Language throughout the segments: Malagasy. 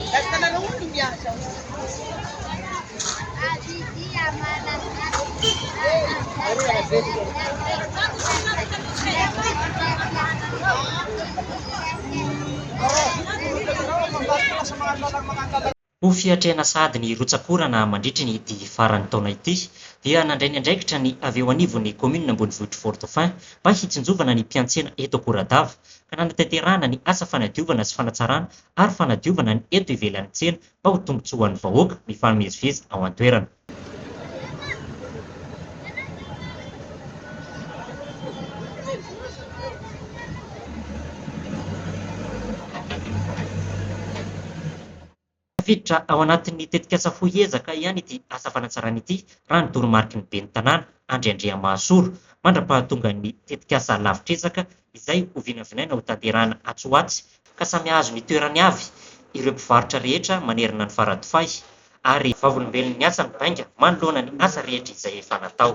Ho fiatrehana sahady ny rotsak'orana mandritry ny dihy faran'ny taona ity dia nandray ny andraikitra ny avy eo anivon'ny kaominina ambonivohitr'i Fort-Dauphin mba hitsinjovana ny mpiantsena eto Akoradava ka nanatanterahana ny asa fanadiovana sy fanatsarana ary fanadiovana ny eto ivelan'ny tsena mba ho tombontsoa ho an'ny vahoaka mifamezivezy ao an-toerana. Tafiditra ao anatin'ny tetikasa Fohy Ezaka ihany ity asa fanatsarana ity, raha ny toromariky ny ben'ny Tanàna, Andry Andriamahasoa, mandra-pahatongan'ny tetikasa Lavitr'Ezaka izay ho vinavinaina ho tanterahina atsy ho atsy ka samy hahazo ny toerany avy ireo mpivarotra rehetra manerana ny Faradofay ary vavolombelon'ny asa mibainga manoloana ny asa rehetra izay efa natao.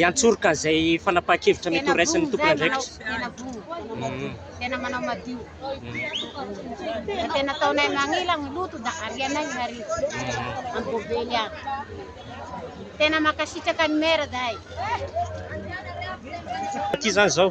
hiantsoroka izay fanapahan-kevitra mety horaisin'ny tompon'andraikitra. tena manao madio da tena ataonay magnila ny loto da arianay ny hariva amin'ny bovely agny tena mankasitraka ny maire zahay aty zany zao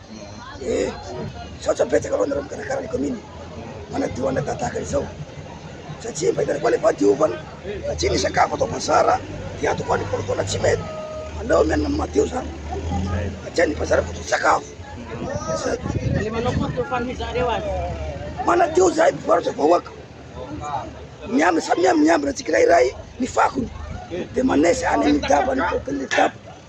Misaotra betsaka aloha anareo mikarakara ny commune manadio anay tahaka izao satria mba hitanay koa ilay fahadiovana satria ny sakafo atao bazara dia ato koa ny kolikoly tsy mety aleo mianana amin'ny madio zany satria ny bazara fototra sakafo manadio zahay mpivarotra vahoaka miambina samy miambina tsika iray ny fakony dia manesy any amin'ny daba ny kokony daba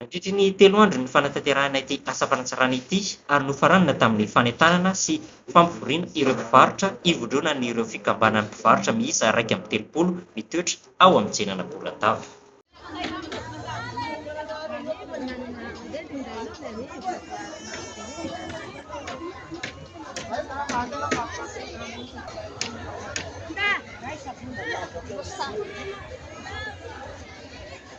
Nampiditra ny telo andro ny fanatanterahana ity asa fanatsarana ity ary nofaranana tamin'ny fanentanana sy fampivoriana ireo mpivarotra hivondronan'ireo fikambanan'ny mpivarotra miisa iraika amby telopolo mitoetra ao amin'ny tsenana Bolatava.